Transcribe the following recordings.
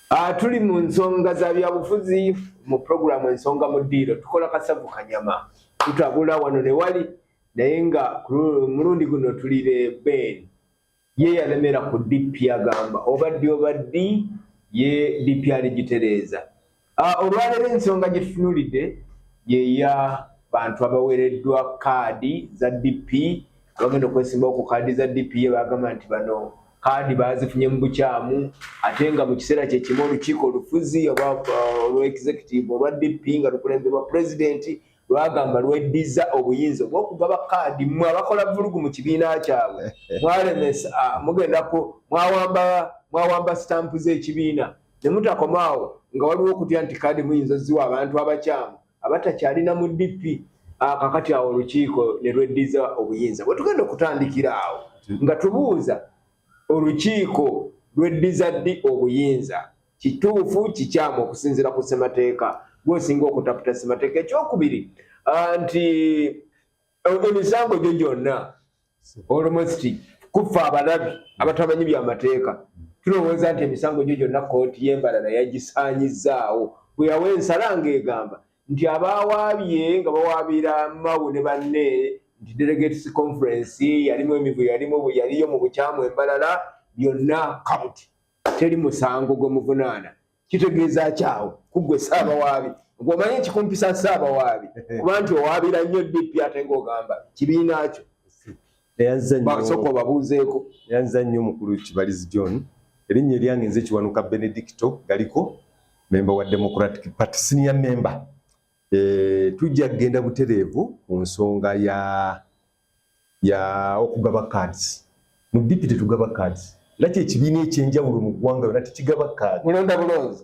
Ah, tuli mu nsonga za byabufuzi mu puroguramu ensonga mu ddiiro tukola kasavu kanyama tutabula wano ne wali naye nga mulundi guno tuli ne ben ye yalemera ku DP agamba obaddi obaddi ye DP aligitereeza. Ah, olwaleero ensonga gye tutunulidde yeya bantu abawereddwa kaadi za DP abagenda okwesimbawo ku kaadi za DP ye bagamba nti bano kaadi bazifunye mu bukyamu ate nga mu kiseera kye kimu olukiiko olufuzi olwa uh, executive olwa DP nga lukulemberwa pulezidenti lwagamba lweddizza obuyinza obwokugaba kaadi mwe abakola vulugu mu kibiina kyabwe mwalemesa ah, mugenda ku mwawamba mwawamba sitampu z'ekibiina ne mutakomaawo nga waliwo okutya nti kaadi muyinza oziwa abantu abakyamu abatakyalina mu dp ah, kakati awo olukiiko ne lweddizza obuyinza bwe tugenda okutandikira awo nga tubuuza olukiiko lweddiza ddi obuyinza kituufu kikyamu okusinziira ku ssemateeka gwosinga okutaputa ssemateeka ekyokubiri ah, nti eh, emisango gyo gyonna olomositi kuffa abalabi abatamanyi byamateeka tulowooza nti emisango gyo gyonna kooti yembalala yagisaanyizzaawo bweyawa ensala ngaegamba nti abaawaabye nga bawaabira mawu ne banne nti delegates conference yalimu emivu yalimu yaliyo mu bukyamu embalala byonna kabuti teri musango gwe muvunaana kitegeeza kyawo kuggwe saabawaabi ng'omanyi ekikumpisa saabawaabi kuba nti owaabira nnyo dp ate ng'ogamba kibiina kyo basooka obabuuzeeko yanza nnyo omukulu kibalizi john erinnya eryange nze kiwanuka benedicto galiko memba wa democratic party senior member eh, tujja kugenda butereevu ku nsonga ya ya okugaba cards mu dipiti tugaba cards laki ekibiina ekyenjawulo mu ggwanga yona tekigaba cards mulonda bulonzi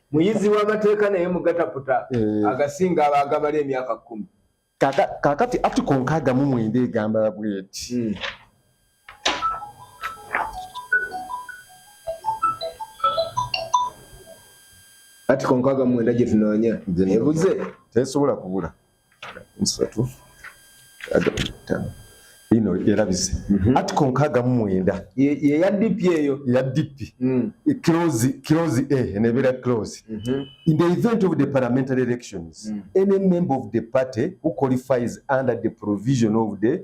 muyizi w'amateeka naye mugataputa eh. agasinga aba agabala emyaka kkumi kakati atiko nkaaga mu mwenda egamba bweti hmm. atiko nkaaga mu mwenda gye tunoonya ebuze tesobola kubula nsatu adamu ino erabise mhm. article nkaaga mu mwenda yeya dipi eyo ya dipi mm. close close a eh, nebeera close mhm. in the event of the parliamentary elections mm. any member of the party who qualifies under the provision of the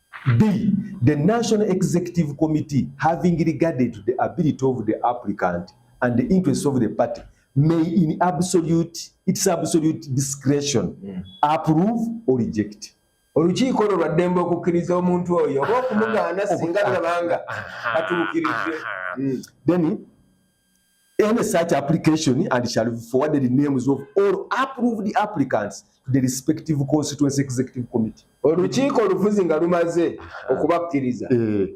B. The National Executive Committee, having regarded to the ability of the applicant and the interests of the party, may in absolute, its absolute discretion mm. approve or reject. olukiiko olwo lwaddembe okukkiriza omuntu oyo oba okumugaana singa lulabanga atuukiridde then Any such application and shall be forwarded in names of all approved applicants to the respective constituency executive committee. Olukiiko olufuzi nga lumaze okubakkiriza eh.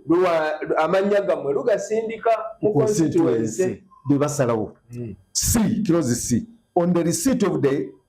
amannya gammwe lugasindika mu constituency bwe basalawo. Hmm. C, close C. On the receipt of the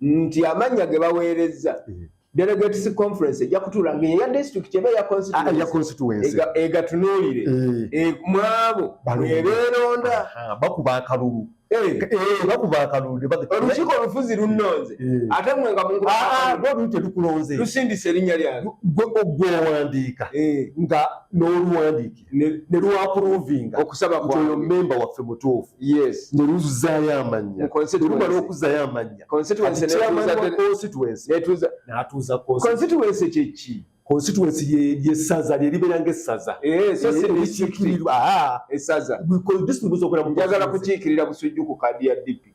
nti amannya ge baweerezza mm-hmm. delegates conference ejja kutuula nga eya district eba eya constituency ah, egatunuulire eh. eh, mwabo ebeeronda bakuba akalulu eh. bakuba akalulu olukiiko olufuzi lunnonze ate mwe nga mungu ah, ah, tetukulonze lusindisa erinnya lyange gwe owandiika nga n'oluwandiika ne lwapuruvinga okusaba nti oyo mmemba waffe mutuufu ne luzuzaayo amannya luba n'okuzaayo amannya n'atuuzaconstituency kyeki constituency yesaza lyeribeera ngaessaza ekikirirwa esaza bikola disitulikti zokola njagala kukiikirira busujju ku kaadi ya dipi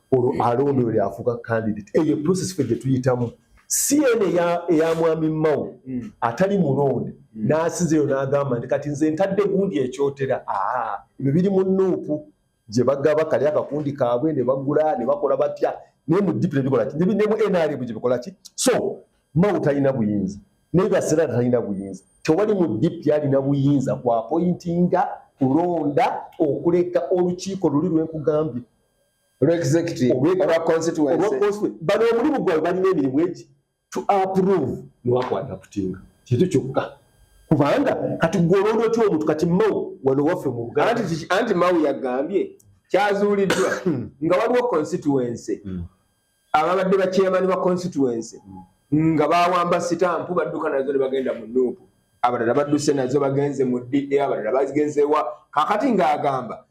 olwo alonda oyo lyafuuka candidate eyo process fe gyetuyitamu si eno eya mwami mawo hmm. atali mulonde hmm. n'asinzeyo n'agamba nti kati nze ntadde gundi ekyotera aa ebyo biri mu nuupu gye bagaba kali akakundi kaabwe ne bagula ne bakola batya naye mu dipu nebikola ki ne mu nrm gye bikola ki so mawo talina buyinza naye basera talina buyinza tewali mu dipu yalina buyinza ku apointinga kulonda okuleka olukiiko luli lwenkugambye bano omulimu gwabwe balina emirimu egi to approve newakwata kutinga kintu kyokka kubanga kati gwolonda otya omuntu kati mau wano waffe mu buganda anti mau yagambye kyazuuliddwa hmm. nga waliwo constituency hmm. ababadde bakyemani ba constituency hmm. nga bawamba sitampu badduka nazo nebagenda mu nuupu abalala badduse nazo bagenze mu dda abalala bagenzewa kakati ngaagamba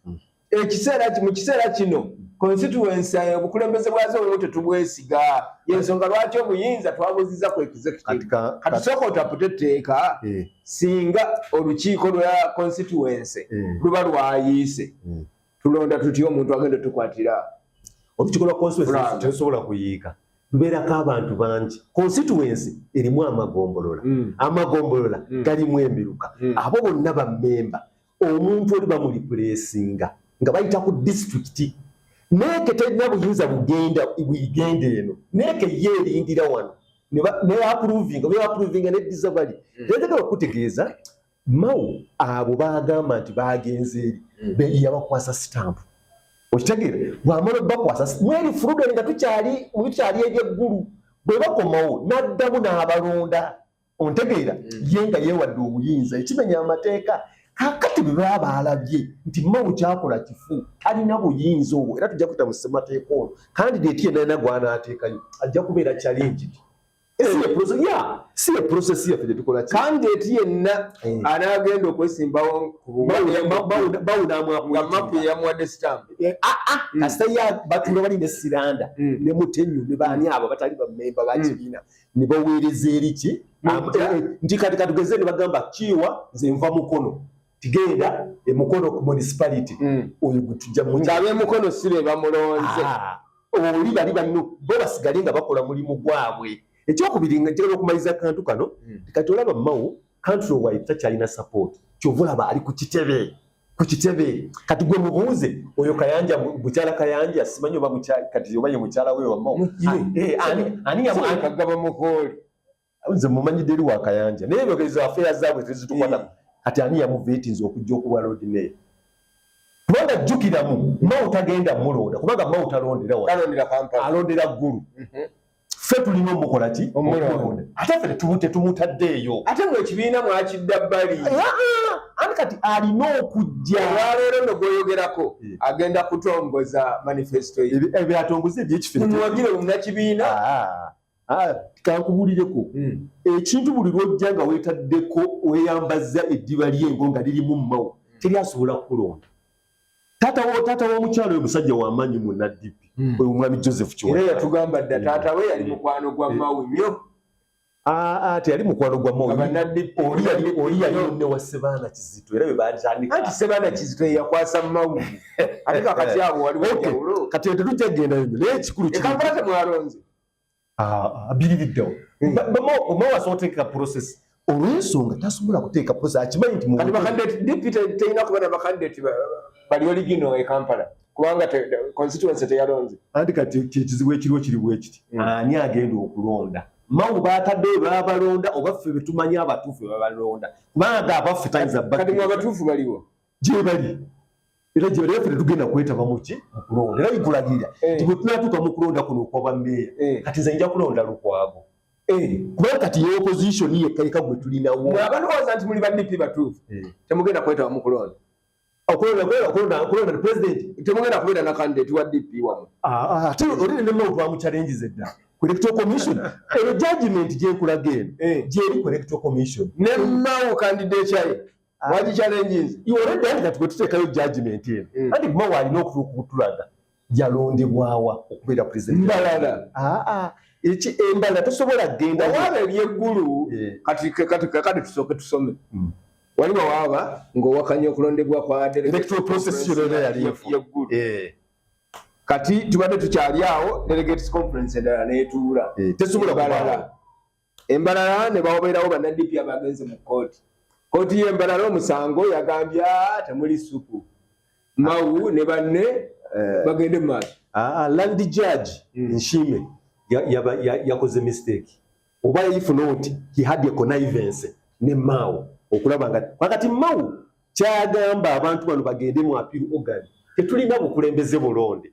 ekiseera mu kiseera kino constituency eh, obukulembeze bwazo obumu tetubwesiga yensonga lwaki obuyinza twabuziza ku executiveatusoka otapute etteeka eh. singa olukiiko lwa constituency eh. luba lwayiise hmm. tulonda tutya omuntu agenda tukwatira olukiiko lwa constituency tesobola kuyiika lubeerako abantu bangi constituency erimu amagombolola hmm. amagombolola hmm. galimu emiruka abo bonna bammemba omuntu oli bamulipulesinga nga bayita ku disitulikiti neeke terina buyinza bugenda bwigenda eno neeke ye erindira wano neyapuruvinga neyapuruvinga neddiza bali hmm. yayagala okutegeeza mao abo bagamba nti bagenze eri hmm. beyabakwasa sitampu okitegeera bwamala obakwasa mweri furudeni nga tukyali ebyeggulu bwebakomawo naddamu n'abalonda ontegeera mm. ye nga yewadde obuyinza ekimenya amateeka kakati bwe baba baalabye nti mawu kyakola kifu talina buyinza obwo era tujja kuyita mu ssemateeka ono kandi deeti yenalina gwanaateekayo ajja kubeera challenge si eprocess yaffe gyetukola kandi eti yenna eh. anaagenda okwesimbawo kubawunaamapu eyamuwadde sitambu eh, ah, ah, hmm. kasita ya batula bali ne siranda hmm. ne mutenyu ne baani abo batali bamemba bakibiina hmm. ne baweereza eri ki nti kati katugeze ne bagamba kiwa nze nva mukono tigenda emukono ku municipality hmm. oyo gwetujja muabemukono si be bamulonze ah, oli bali banno bo basigale nga bakola mulimu gwabwe ekyokubiri nga njagala okumaliza akantu kano hmm. kati olaba mawo country wide takyalina support kyova olaba ali ku kitebe ku kitebe kati gwe mubuuze oyo kayanja mukyala kayanja simanyi oba kati oba ye mukyala we wamao eh, aniyagaba mukooli nze mumanyidde eri wakayanja naye ezo afeera zaabwe tezitukwata eh. kati ani yamuveetinza okujja okuba lodi meeya kubanga jjukiramu mao tagenda mulonda kubanga mao talondera alondera ggulu mhm. ffe tulina omukola ki omulonda ate ffe tetumutaddeeyo ate mwe ekibiina mwakidda bbali ani kati alina okujja olwaleero no gwoyogerako eh. agenda kutongoza manifesto ebyatongoza ebyekifemuwagire omunakibiina ah, ah, kankubulireko hmm. ekintu buli lwojja nga wetaddeko weyambazza eddiba lyengo nga lirimu mumawo hmm. teri asobola kukulonda Tata wo tata wo mukyalo yo musajja wa manyi mu NDP. Mm. Oyo mwami Joseph Chiwa. Era yatugamba dda tata we yali mukwano gwa mawe myo. Ah ah te yali mukwano gwa mawe. Aba NDP oli yali oli yali ne wa Sebana Kizito era bebanjanika. Ati Sebana Kizito yakwasa mawe. Ati kakati abo wali wa jawulo. Kati yatujja genda yo. Naye kikulu kiri. Ekapata mwaronze. abiririddewo omuwaza oteeka process olwensonga tasobola kuteeka process akimanyi nti kati bakandidate deputy teyina kuba na bakandidate bali oligino e kampala kubanga constituency teyalonze anti kati ekizibu ekiriwo kiri bwekiti hmm. ani agenda okulonda mawu bataddeyo babalonda oba ffe betumanyi abatuufu bebabalonda kubanga abaffe tayinza bakati mu abatuufu baliwo gyebali era gye bali ffe tugenda kwetaba muki mu kulonda era nkulagira eh. nti bwe tunatuuka mu kulonda kuno okwaba meeya eh. kati nze nja kulonda lukwago eh. kubanga kati ye opposition yekka yeka gwe tulinawo abalowooza nti muli ba dp batuufu temugenda kwetaba mu kulonda temugenda kubeera na kandidate wa dp wamu ah, ah, ate oli nenemuntu wamuchallenges edda electro commission eyo judgment gyenkulaga eno gyeri ku electro commission nemawo kandidate yaye Wali challenge is you already done that but take your judgment in. Mm. And mo wali no kutulaga. Yalonde bwawa okubera president. Mbalala. Ah ah. Echi embala tosobola genda. Wabe bye guru. Yeah. Kati kati kati tusoke tusome. Mm. Wali wawa ngo wakanye okulonde bwa kwa adere. Electoral process yo lele yali ya guru. Eh. Kati tubade tuchali yao delegates conference ndala netura. Eh. Tesobola balala. embalala ne bawobeerawo banadp abagenze mu kkooti kkooti y'embalala omusango yagambye ah, temuli suku mawu ne banne eh. bagende mu maaso ah, ah, land judge hmm. nshime yakoze mistake oba yayifuna oti he had a connivance ne maawo okulaba nga kakati mawu kyagamba abantu bano bagende mu appeal organ tetulina bukulembeze bulonde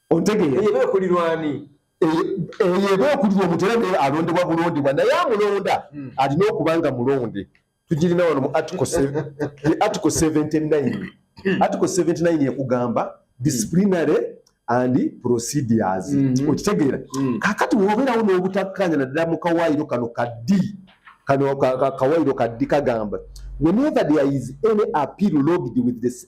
ontegeera eyo eba ekulirwa ani eyo eba ekulirwa omuntu era naye alondebwa bulondebwa naye amulonda hmm. alina okuba nga mulonde tugirina wano mu article 79 article 79 ekugamba disciplinary and procedures hmm. okitegeera hmm. kakati wobeerawo n'obutakkanya naddala mu kawaayiro kano kaddi kano kawaayiro kaddi kagamba whenever there is any appeal logged with this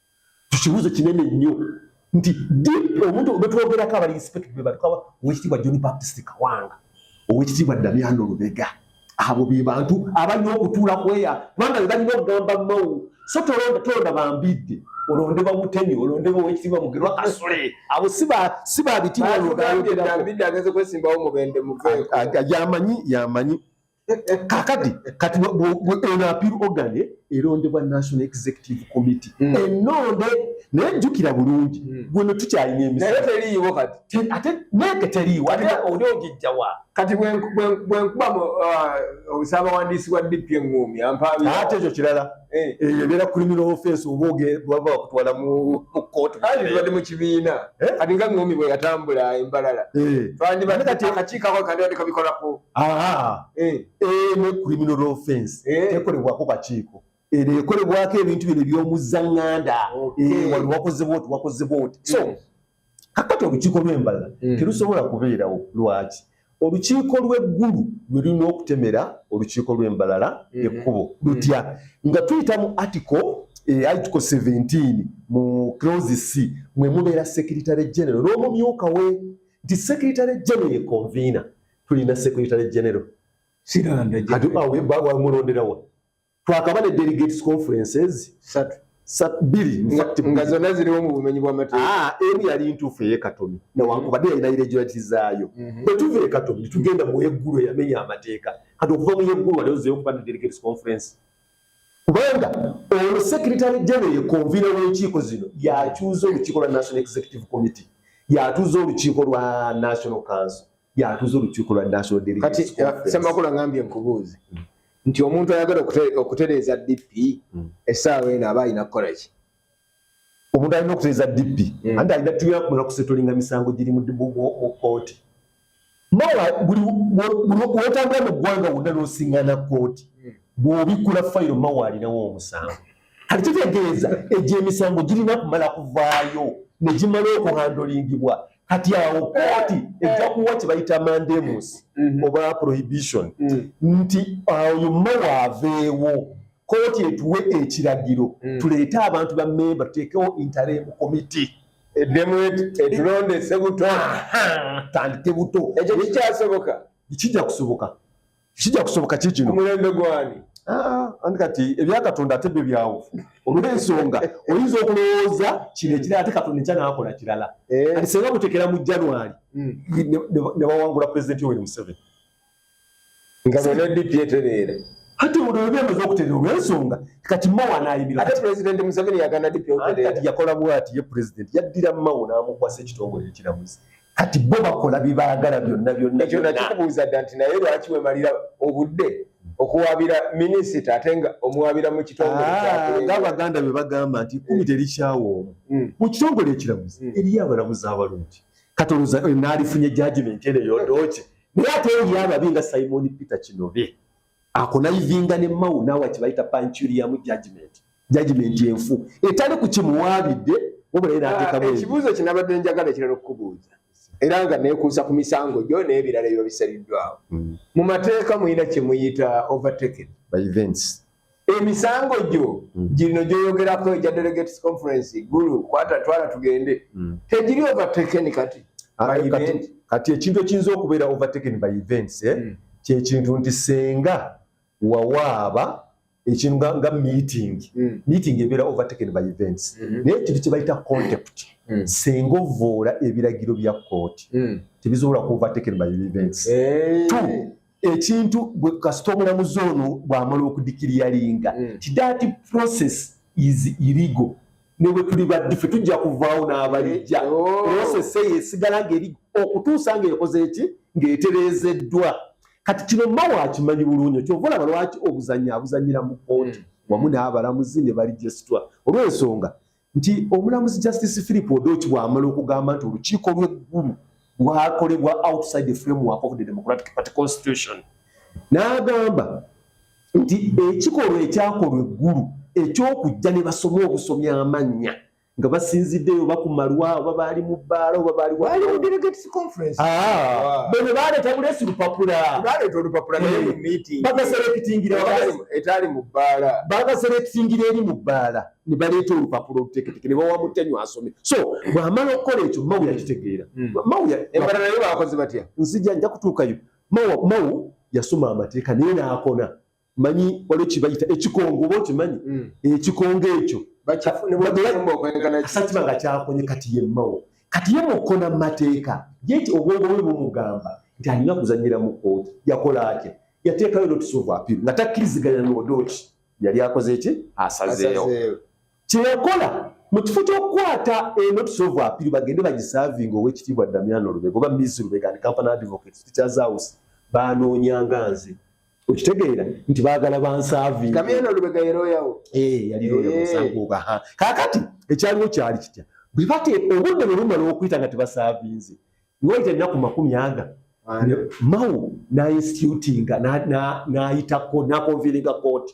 tukibuuzo kinene nnyo nti deep omuntu betwogerako abali inspect bebatukawa owekitiibwa john baptist kawanga owekitiibwa damiano lubega abo be bantu abalina okutuula kweya kubanga bebalina okugamba mawu so tolonda tolonda bambidde olondebwa mutemi olondebwa owekitiibwa mugerwa kasule abo si babitiibwa yamanyi yamanyi kakati kati eno appeal organ erondebwa national executive committee hmm. enonde naye jjukira bulungi hmm. gweno tukyalina emisteriiwo kati ate neke teriiwo ate oli ogijjawa kati bwenkuba uh, osabawandiisi wa dp eŋumi ampaabi ate ekyo kirala eh. eyo ebeera criminal offense oba baba bakutwala mu kootu kati tubadde mu kibiina eh? kati nga ŋumi bwe yatambula embalala eh. twandibadde akakiiko ako kandibadde kabikolako ne criminal offense tekolebwako kakiiko ero ekolebwako ebintu bino ebyomuzaŋŋanda wali wakozebwa oti wakozebwa oti so hmm. kakati olukiiko lw'embalala hmm. terusobola kubeerawo lwaki olukiiko lw'eggulu lwe lulina okutemera olukiiko lw'embalala hmm. ekkubo lutya nga tuyita mu article eh, article 17 mu close c mwe mubeera secretary general n'omumyuka we nti secretary general ye convener tulina secretary general siranda kati awe baba mulonderawa twakaba ne delegates conferences satu satu bili nga zona ziri mu bumenyi bwa mateeka ah emu yali ntufu ye katomi na wangu bade ina ile jwati zayo mm-hmm. bwe tuve katomi tugenda mu eguru ya menya amateka kati okuva mu eguru wale ozeyo kupanda delegates conference kubanga ono secretary general ye convener w'enkiiko zino yakyuza olukiiko lwa national executive committee yatuza olukiiko lwa national council yatuza olukiiko lwa national delegates kati semakula ngambye nkubuuze mm. nti omuntu ayagala okutereeza dp mm. essaawa eno aba alina kukola ki omuntu alina okutereeza dp mm. anti alina tubira kumala kusetolinga misango giri mu kooti mawa buli wotambula mu ggwanga wonna n'osiŋana kooti bw'obikkula fayiro mawa alinawo omusango kati kitegeeza egyo emisango girina kumala kuvaayo ne gimala okuhandolingibwa kati awo kooti eh, eh. ejja kuwa kye bayita mandemus mm-hmm. oba prohibition mm. nti oyo mawa aveewo kooti etuwe ekiragiro mm. tuleete abantu ba memba tuteekewo interim committee eddemu etulonda esebuto tandike buto ekyo kikyasoboka kijja kusoboka kijja kusoboka ki kino mulembe gwani ah, andi kati ebya katonda ate byo byawo olw'ensonga oyinza okulowooza kino ekirala ate katonda ekya naakola kirala eh. kati senga mutekera mu january hmm. ne bawangula pulezidenti yoweri museveni nga bona dp etereera hati ono yobya amaze okuterera olw'ensonga kati mawo anaayimira ate pulezidenti museveni yagana dp okuterera yakola bwati ye pulezidenti yaddira mawo n'amukwasa ekitongole ekiramuzi kati bo bakola byebaagala byonna byonna ekyo nakikubuuza dda nti naye lwaki wemalira obudde okuwaabira minisita ate nga omuwaabira mu kitongole ah, ngaabaganda be bagamba nti kumi eh. terikyawo omu hmm. mu kitongole ekiramuzi hmm. eriyo abalamuzi abalungi kati oluza naalifunye jajimenti eno yodoki naye ate eriyo ababi nga simoni peter kinobe akonayivinga ne mawu naawa kyebayita pancuriamu judgment judgment enfu etali ku kimuwaabidde wabula era atekamu ah, ekibuuzo kinabadde njagala ekirala okukubuuza era nga nekuusa ku misango gyo n'ebirala ebiba bisaliddwawo hmm. mu mateeka mulina kyemuyita overtaken by events emisango gyo hmm. gino gyoyogerako egya delegates conference gulu kwata twala tugende hmm. tegiri overtaken kati ah, kati ekintu ekiyinza okubeera overtaken by events eh? kyekintu nti senga wawaaba ekintu nga, nga meeting mm. meeting ebeera overtaken by events mm -hmm. naye ekintu kyebayita contact mm. senga ovoola ebiragiro bya kooti mm. tebisobola ku overtaken by events hey. Two, ekintu bwe kasita omulamuzi ono bw'amala okudikiriyalinga mm. ti that process is illegal ne bwe tuli baddi ffe tujja kuvaawo n'abalijja eh, oh. prosese yesigala ng'eri okutuusa ng'ekoze eki ng'etereezeddwa kati kino mawo akimanyi bulungi kyova olaba lwaki obuzannya abuzannyira mu kooti hmm. wamu n'abalamuzi ne balijesitwa olw'ensonga nti omulamuzi justice philip odoki bw'amala okugamba nti olukiiko lw'eggulu lwakolebwa outside the framework of the democratic party constitution n'agamba nti ekikolwa ekyakolwa eggulu eky'okujja ne basoma obusomya amannya nga basinziddeyo oba ku malwa oba baali mu bbaala oba baali ah, bano baleeta bulesi lupapulabagaserekitingiraetaali mu bbaala bagaserekitingira eri mu bbaala ne baleeta olupapula oluteketeke ne bawa mutenyu asome so bw'amala okukola ekyo mawuya kitegeera hmm. mawuya embalala yo bakoze batya nzija nja kutuukayo Mawo mawo yasoma amateeka naye n'akona manyi waliwo kibayita ekikongo oba okimanyi hmm. ekikongo ekyo sakiba nga kyakonye kati ye mawo kati ye mukona mu mateeka yeti obwongo bwe bumugamba nti alina kuzanyira mu kooti yakola atya yateekayo notice of appeal nga takkiriziganya n'odooki yali akoze ki asazeewo Kye yakola mu kifo ky'okukwata eno tusovu apiri bagende bagisaavinga ow'ekitiibwa Damiano Lubega oba Miss Lubega and Company Advocates Teachers House baanoonyanga nze okitegeera nti baagala bansaavinga. Damiano Lubega ye looya wo? Ee eh, yali looya musango eh. ogaha. Kaakati ekyaliwo kyali kitya? Bwe bate obudde bwe bumala okuyita nga tebasaavinze nga wayita ennaku makumi aga mawo n'ainstitutinga n'ayitako n'akonviiringa kooti.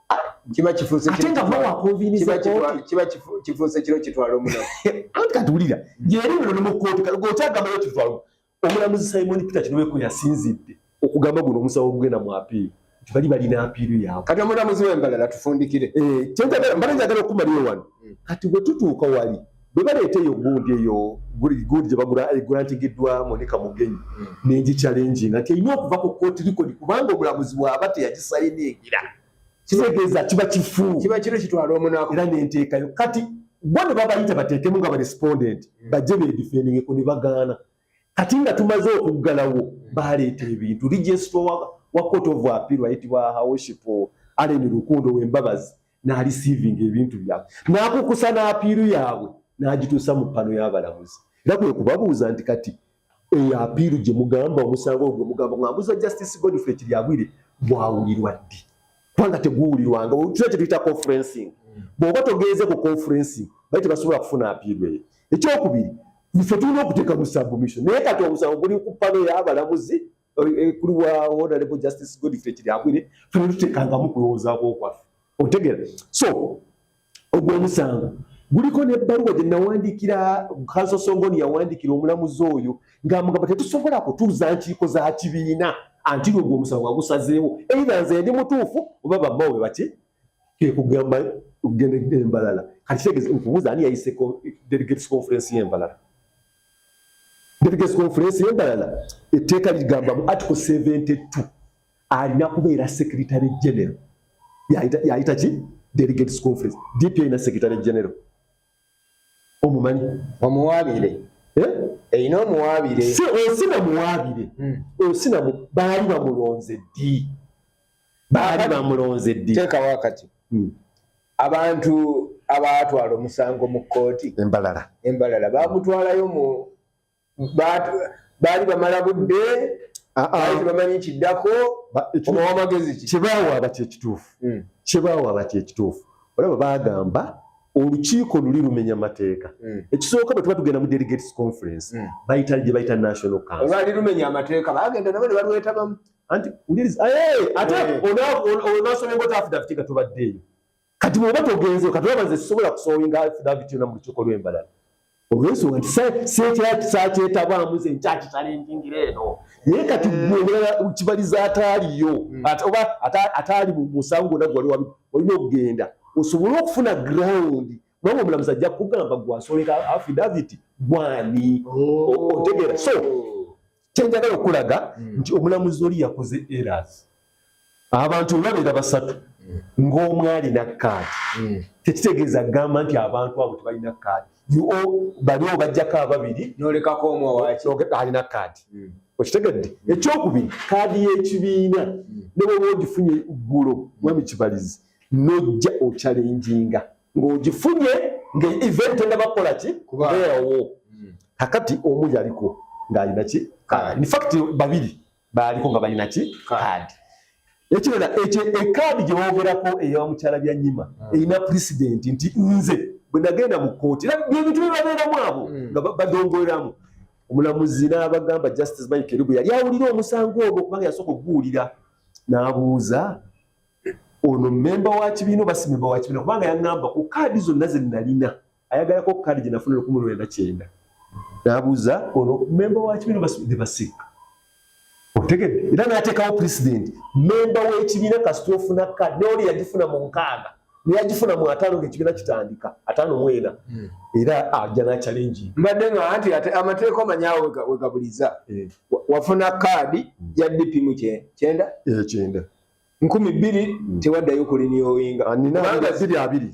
kiba kifuuse ate nga bo wakonvinisa kooti kiba kifuuse kiro kitwala omunaku anti kati wulira yeri muno ne mu kooti kati goti agambayo kitwala omulamuzi simoni peter kinobe kwe yasinzidde okugamba guno omusawo ogugenda mu apiiri nti bali balina apiiru yaabwe kati omulamuzi w'embalala tufundikire eh, kyentagala mbala njagala okumalira wano hmm. kati bwe tutuuka wali bwe baleeta eyo gundi eyo gundi gye bagula egulantigiddwa eh, monika mugenyi hmm. nengicalenjinga nti erina okuva ku kooti likodi kubanga omulamuzi bwaba teyagisayiningira kitegeeza kiba kifu kiba kiro kitwala omunaku era nenteekayo kati bo ne babayita bateekemu nga barespondent hmm. bajje bedifendingeko ne bagaana kati nga tumaze okuggalawo hmm. baleeta ebintu registrwa wa court of appeal ayitibwa hawoshipo aleni lukundo wembabazi n'alisiivinga ebintu byabwe n'akukusa n'apiiru yaabwe n'agituusa mu ppano y'abalamuzi era kwe kubabuuza nti kati eyo apiiru gye mugamba omusango ogwo mugamba ng'ambuza justice godfrey kiryagwire gwawulirwa ddi kubanga teguwulirwanga kira kye tuyita conferencing bw'oba togenze ku conferencing bali tebasobola kufuna apiiru eyo ekyokubiri ffe tulina okuteeka mu submission naye kati omusango guli ku ppano y'abalamuzi eh, kuli wa honorable justice Godfrey Kiryabwire fena tutekangamu kulowoozaako okwaffe otegera so ogw'omusango guliko n'ebbaluwa gye nawandiikira kanso songoni yawandiikira omulamuzi oyo ng'amugamba tetusobola kutuuza nkiiko za kibiina anti lwe ogw'omusango agusazeewo eira nze ndi mutuufu oba bammawo be baki kekugamba okugenda embalala kati kitegeeza nkubuuza ani yayiseko delegates conference y'embalala delegates conference yendalala etteeka ligamba mu article 72 alina kubeera secretary general yayita ki delegates conference dp erina secretary general omumanyi omuwabire eh? erina omuwabire osina muwabire hmm. osina baali bamulonze ddi baali bamulonze ddi teekawo akati hmm. abantu abaatwala omusango mu kkooti embalala embalala baamutwalayo mu baali bamala budde ah, ah. baali bamanyi kiddako omawamagezi ki kibaawo abati ekituufu hmm. kibaawo abati ekituufu olaba baagamba olukiiko luli lumenya mateeka hmm. ekisooka bwe tuba tugenda mu delegates conference hmm. bayita gye bayita national council olwali lumenya amateeka bagenda nabo ne balwetabamu anti uliriza eh ate eh. ona ona so ngo tafu dafiti ka tuba de kati mwe bato genzo kati babaze sobola kusowinga afi dafiti na mu chokolo embala oweso nti se se kya kisa kye taba muze nchachi tale ngingire no ye kati mwe eh. ngala ukibaliza atali yo hmm. ati oba atali mu musango na gwali wabi olino genda osobolo kufuna ground Mama omulamuzi ajja kugamba gwasoleka affidavit gwani oh. otegera so kyenjagala okulaga hmm. nti omulamuzi oli yakoze eras abantu olwabeera basatu hmm. ng'omu alina kaadi hmm. tekitegeeza gamba nti abantu abo tebalina kaadi bali obajjako ababiri nolekako omu alina kaadi okitegedde ekyokubiri kaadi y'ekibiina ne bwoba ogifunye ggulo mwami kibalizi mm. nojja okyalenjinga ng'ogifunye nga event enabakola ki kubeerawo hmm. kakati omu yaliko ng'alina ki kaadi infact babiri baaliko nga balina ki kaadi ekirala ekyo ekaadi gye boogerako eya mukyala bya nyima hmm. erina pulezidenti nti nze bwe nagenda mu kkooti era byebintu bye babeeramu abo hmm. nga badongoleramu omulamuzi n'abagamba justice mike kerubu yali awulira omusango ogwo kubanga yasooka okuguwulira n'abuuza ono memba wa kibiina oba si memba wa kibiina kubanga yaŋŋamba ku kaadi zonna ze nnalina ayagalako kaadi gye nafuna lukumi lwenda kyenda n'abuuza ono memba wa kibiina oba ne basiika otegedde era n'ateekawo pulezidenti memba w'ekibiina kasita ofuna kaadi neoli yagifuna mu nkaaga neyagifuna mu ataano ng'ekibiina kitandika ataano mwena hmm. era ajja n'akyalengi mbadde nga anti ate amateeka omanyawo wegabuliza eh. wafuna kaadi ya dp mu kyenda eh, kyenda nkumi bbiri mm. tewaddayo kuliniyowinga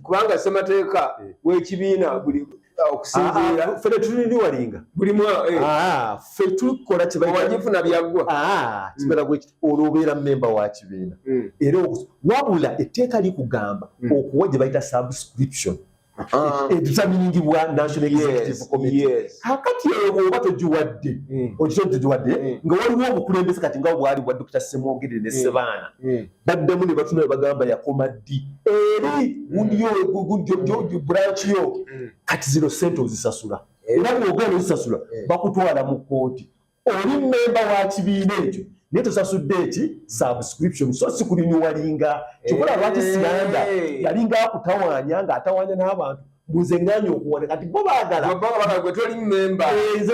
kubanga ssemateeka eh. w'ekibiina buli okusinziira ah, ah, ffe tetuliniwalinga buli mwafe eh. ah, tukola kyewagifuna byaggwa mm. kibeera bwe olwo obeera mmemba wa kibiina mm. era wabula etteeka likugamba mm. okuwa gye bayita subscription Ah. etusaminingibwa national executive committee kakati eyo bwoba togiwadde hmm. okisa nti togiwadde hmm. nga waliwo obukulembeze kati nga bwali bwa dokita semwogere ne hmm. sebaana baddamu ne batuna ne bagamba yakoma ddi eri gundi branch yo kati zino sente ozisasula era bwogana ozisasula bakutwala mu kooti oli memba wa kibiina ekyo naye tosasudde eki subscription so sikulinyuwalinga kyokola lwaki siranda yalinga akutawanya nga atawanya n'abantu buze nganya okuwana kati bo bagalanze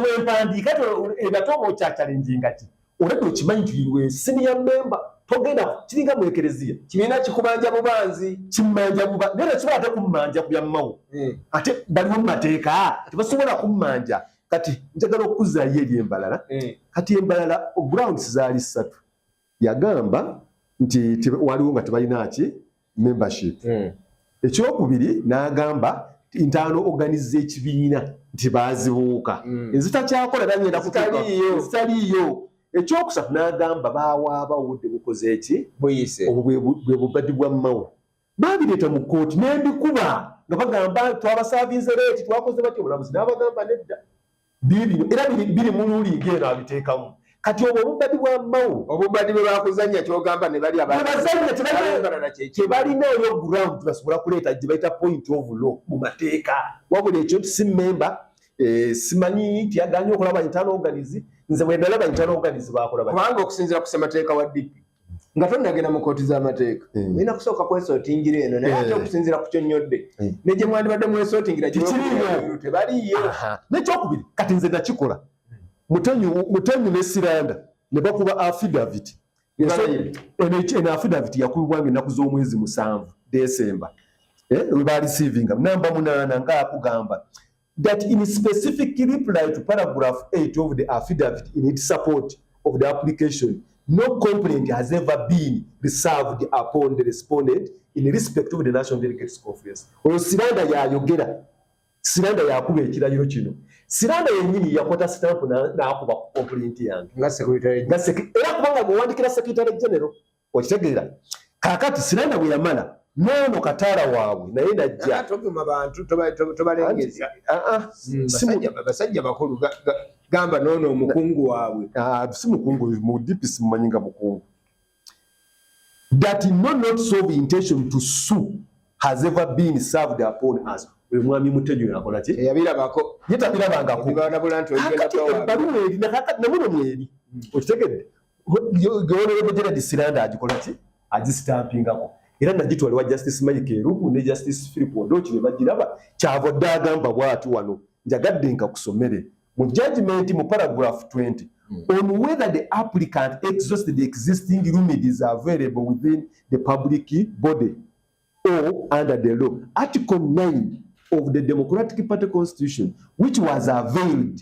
bwempandiika ebatoba okyakyalenjinga ki olabda okimanyi nti iwe siniya memba togenda kiringa mu ekereziya kibiina kikubanja bubanzi kimanja buba naye tekiba ate kummanja ku byammawo eh. ate baliwo mu mateeka tebasobola kummanja kati njagala okuzaayo eri embalala eh. kati embalala grounds zaali ssatu yagamba nti waliwo nga tebalina ki membership hmm. ekyokubiri n'agamba ntaano oganiza ekibiina nti baazibuuka hmm. ezitakyakola nanyenda kutaliiyo ekyokusatu n'agamba bawaaba obudde bukoze eki obwo bwe bubadi bwa mmawo Baabireeta mu kkooti ne mbikuba nga bagamba twabasaavinze leeti twakoze batya omulamuzi n'abagamba nedda biibino era biri mu luuliiga eno abiteekamu kati obwo obubbadi bwa mao obubbadi bwe bakuzannya kyogamba ne bali abazannya kyebalina eyo ground basobola kuleeta gye bayita point of law mu mateeka wabula ekyo nti si mmemba eh, simanyi nti yagaanye okulaba internal organize nze bwe ndalaba internal organize bakola kubanga okusinzira ku ssemateeka wa dpp nga tonnagenda mu kooti z'amateeka eh. olina kusooka kwesootingira eno naye ate eh. okusinziira ku kyonnyodde eh. ne gye mwandibadde mwesootingira tebaliyo nekyokubiri kati nze nakikola mutenyu ne siranda ne bakuba affidavit eno affidavit yakubibwanga ennaku z'omwezi musanvu desemba webalisiivinga namba munaana ngaakugamba that in specific reply to paragraph 8 of the affidavit in its support of the application, no complaint has ever been reserved upon the respondent in respect of the National Delegates Conference. Oyo Siranda yayogera, Siranda yakuba ekirayiro kino. Siranda yennyini yakwata stamp n'akuba complaint yange. Nga secretary. Nga secretary. Era kubanga bw'owandikira secretary general. okitegeera kakati siranda bwe yamala noono kataala waabwe naye najjabasajja bakulu gamba noono omukungu waabwe ah, si mukungu mu dipisi mumanyi nga mukungu that no not solve intention to sue has ever been served upon us mwami mutenyo yakola ki eyabirabako yetabirabangako ebbaluwa eri namuno mweri hmm. okitegedde Honorable Gerald Siranda agikola ki agisitampiingako era nagitwala ewa Justice Mike Erugu ne Justice Philip Odoki ne bagiraba kyava dda agamba bwati wano njagadde nkakusomere mu judgment mu paragraph 20 hmm. on whether the applicant exhausted the existing remedies available within the public body or under the law article 9 of the Democratic Party Constitution which was availed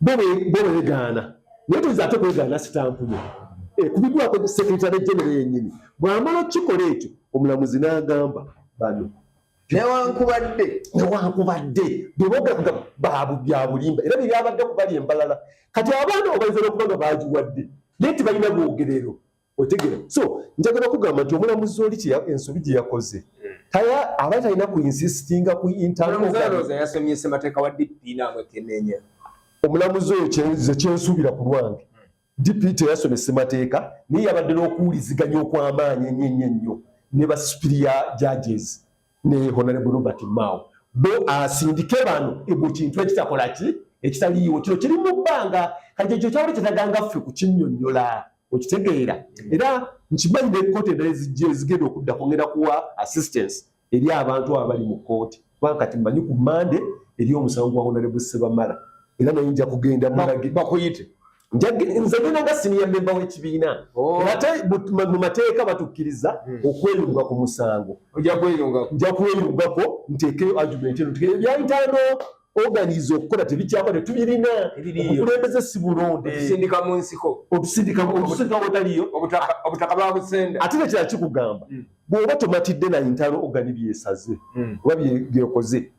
bo begaana naye toyinza ate kwegaana sitampu yo ekubidwako eh, sekretary genero yenyini bwamala okukikola ekyo omulamuzi n'agamba bano newankubadde newankubadde bebogamba babu byabulimba era byebyabadde kubali embalala kati abaana obaizala okuba nga bagiwadde naye tibalina bwogerero otegera so njagala okugamba nti omulamuzi oli ensobi gye yakoze taya aba talina ku insistinga ku intalyasomyesemateeka wa dp namwekenenya omulamuzi oyo ze kyensuubira ku lwange dp teyasoma essemateeka naye yabadde n'okuwuliziganya okw'amaanyi ennyo ennyo ennyo ne basupiriya judges ne honorable Robert Mao bo asindike bano ebo kintu ekitakola ki ekitaliiwo kino kiri mu bbanga kati ekyo kyawuli kyetaganga ffe kukinyonyola okitegeera era nkimanyi ne kkooti endala ezijja ezigenda okudda kungenda kuwa assistance eri abantu abo bali mu kkooti kubanga kati mmanyi ku mande eri omusango gwa honorable Sebamala era naye nja kugenda bakuyite nze genda nga siniya memba w'ekibiina oh. ate mu mateeka batukkiriza hmm. okweyunga ku musango nja kweyungako nteekeyo argument eno tugere byayitano organize okukola tebikyakola tetubirina okulembeze si bulonde otusindika mu nsiko otusindika wotaliyo obutaka babusenda ate nekira kikugamba hmm. bw'oba tomatidde na ntalo ogani byesaze hmm. oba byekoze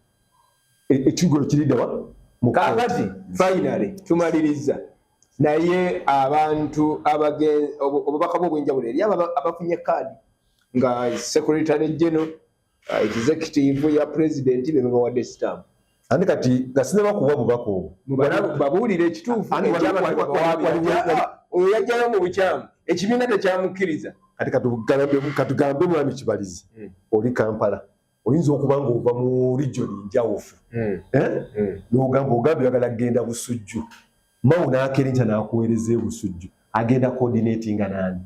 e, ekigo ekiridawa kakati finally tumaliriza naye abantu obubaka bwo obwenjawulo eri abo abafunye kaadi nga secretary general uh, executive ya president bebabawadde stamp ani kati nga sinebakuwa bubaka obwo babuulire ekituufu oyo yajjayo mu bukyamu ekibiina tekyamukkiriza kati katugambe mwami kibalizi hmm. oli kampala oyinza okuba ng'ova mu rijoni njawufu hmm. Eh? Hmm. nogamba ogamba oyagala kugenda busujju mawo n'akerenkya n'akuweereza ebusujju agenda coordinatinga nani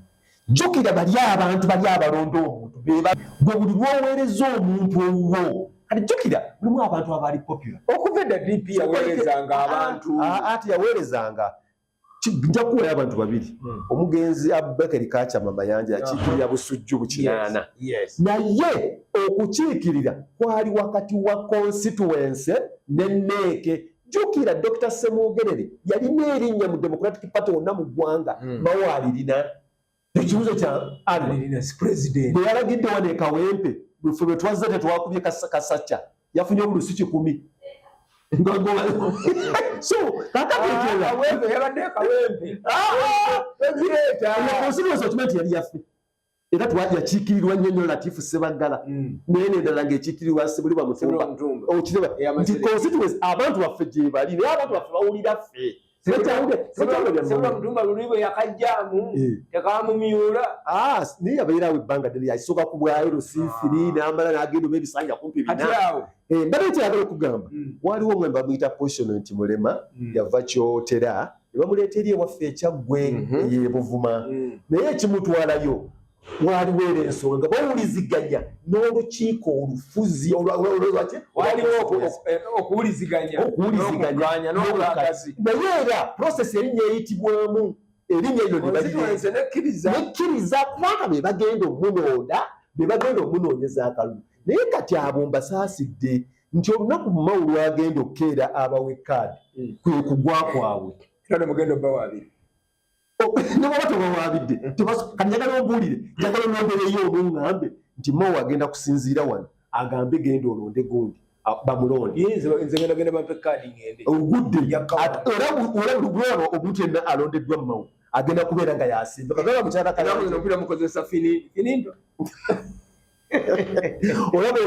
jjukira bali abantu bali abalonda omuntu beba gwe buli lwoweereza omuntu owuwo kati jjukira mulimu abantu abaali popular okuva edda dp yaweerezanga abantu ah, ah, ati yaweerezanga nja kuwayo abantu babiri hmm. omugenzi abubakari kacama mayanja yakiikirira busujju bukinaana naye okukiikirira kwali wakati wa konsituwense ne neeke jukira dr semwogerere yalina erinnya mu democratic party wonna mu ggwanga hmm. mawaalirina ekibuzo kya bweyalagidde wano ekawempe fe bwetwazze tetwakubye kasakya yafunye obulusi kikumi nti yali yafe era yakiikirirwa nnyo nnyo latifu sebaggala hmm. naye nendala ngaekiikirirwa sebuli bamutumba okireba nti constituency abantu baffe gyebali naye abantu baffe bawulira ffe sebula mutumba luli bwe yakajjamu eh. tekamumyula ah, naye abeera awo ebbanga ddene yasooka ku bwayo lusiifiri ah. n'amala n'agenda oba ebisanja kumpi binaawo eh, mbadde kyagala okugamba hmm. waliwo omwe bamuyita potion nti mulema hmm. yava kyotera ne bamuleeta eri ewaffe ekyaggwe mhm. eyebuvuma hmm. naye ekimutwalayo waliwo era ensonga nga bawuliziganya n'olukiiko olufuzi okuwuliziganya naye era prosesi erinnya eyitibwamu erinnya eryo nebanekkiriza kubanga be bagenda omunooda be bagenda omunoonyeza akalulu naye kati abo mbasaasidde nti olunaku mumawu lwagenda okukeera abawe kaadi hmm. kwe kugwa kwabwe era nemugenda obawa abiri nebwaba tebawabidde kati njagala obuulire njagala onombereyo oluŋŋambe nti mowa agenda kusinziira wano agambe genda olonde gundi bamulondeoguddeyolabulwano omuntu yenna alondeddwa mumawo agenda kubeera nga yasimba kagaba mukyalakalapiramukozesafinindwa olaba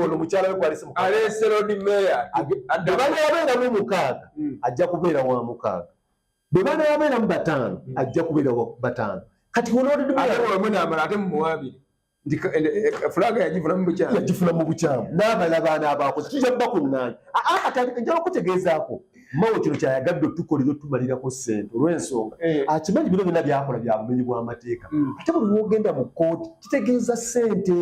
ono mukyala we kwalisemukaaleeserodimeya abeeramu mukaaga hmm. ajja kubeera wa mukaaga bwe baana babeeramu bataano hmm. ajja kubeera bataano kati wonoodedmwenaamala ate mumuwaabire nti eh, eh, eh, fulaga yagifuna mu bukyamu yagifuna mu bukyamu n'abala baana abaakoze kijja kuba kunnaanyi njala okutegeezaako mawo kino kyayagadde otukolera otumalirako ssente olw'ensonga akimanyi bino byonna byakola bya bumenyi bw'amateeka hmm. ate buli wogenda mu kkooti kitegeeza ssente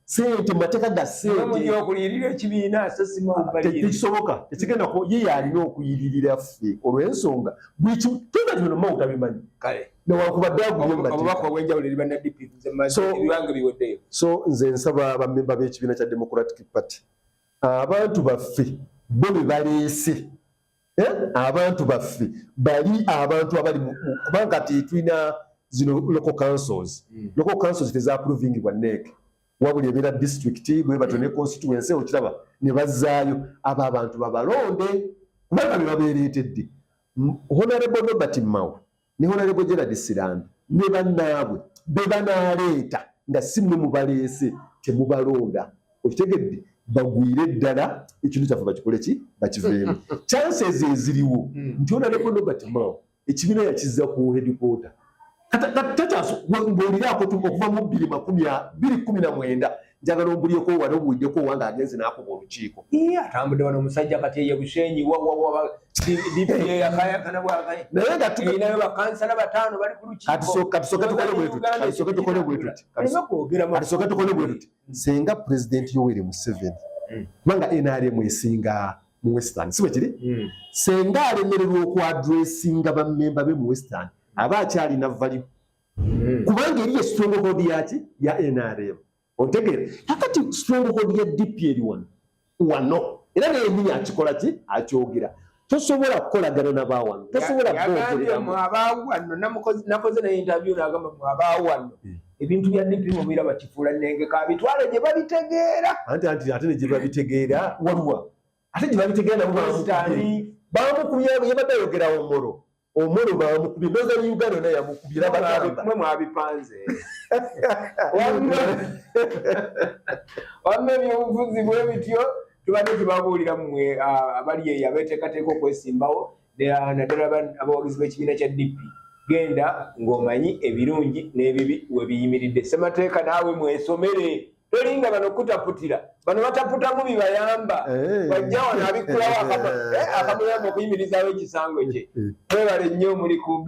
sente mateeka ga sentetekisoboka tekigenda ku ye yalina okuyiririra ffe olwensonga buli kimu tona tino mawu tabimanyi newankubaddeaguyoso nze nsaba bamemba b'ekibiina kya democratic party abantu baffe bo bebaleese eh? abantu baffe bali abantu abali kubanga kati tulina zino local councils mm. local councils tezapruvingibwa neeke wabuli ebeera district bwebatyo ne constituency okiraba ne bazzaayo abo abantu babalonde kubanga bebabeereetedde honorable nobert mao ne Honorable Gerald Sirambi ne bannaabwe be banaaleeta nga si mwe mubaleese temubalonda okitegedde bagwire ddala ekintu kyaffe bakikole ki bakiveemu chances eziriwo hmm. nti onaleko nobert mao ekibiina yakiza ku hedikota takyasngoliraako okuva mu bbiri makumi bbiri kumi na mwenda njagala ombuliyeko wano obuwideko owange agenze nakuba olukiiko atambudde wano omusajja kati eye bushenyi wawawaayakanayo bakansala bataano bali kulukiikokatisoke tukole bwe tuti senga pulezidenti yoweri museveni hmm. kubanga nrm esinga mu western si bwekiri hmm. senga alemererwa okuadressinga bamemba be mu western aba akyalina valiu hmm. kubanga eriyo stronghold yaki ya nrm otegeera kakati stronghold ya dp eri wano wano era naye nyini akikola ki akyogera tosobola kukolagana nabawano tosobola nakoze naye interview nagamba mwabawano hmm. ebintu bya dp mubira bakifuula nenge kabitwale gye babitegeera anti anti ate negye babitegeera waliwa ate gye babitegeera nabo bamukubye yabadde ayogera omoro Omolo baamukubye ndoza ni Uganda na yamukubye la bagamba mwe mwabipanze wamwe wamwe byobufuzi bwe bityo tubadde tubabuulira mwe abali eyo abeteekateeka okwesimbawo naddala abawagizi b'ekibiina kya DP genda ng'omanyi ebirungi n'ebibi webiyimiridde ssemateeka naawe mwesomere tolinga bano kutaputira bano bataputamu bibayamba eh. wajja wano abikkulawo eh. akamuyamba okuyimirizaawo ekisango kye eh. mwebale nnyo muli ku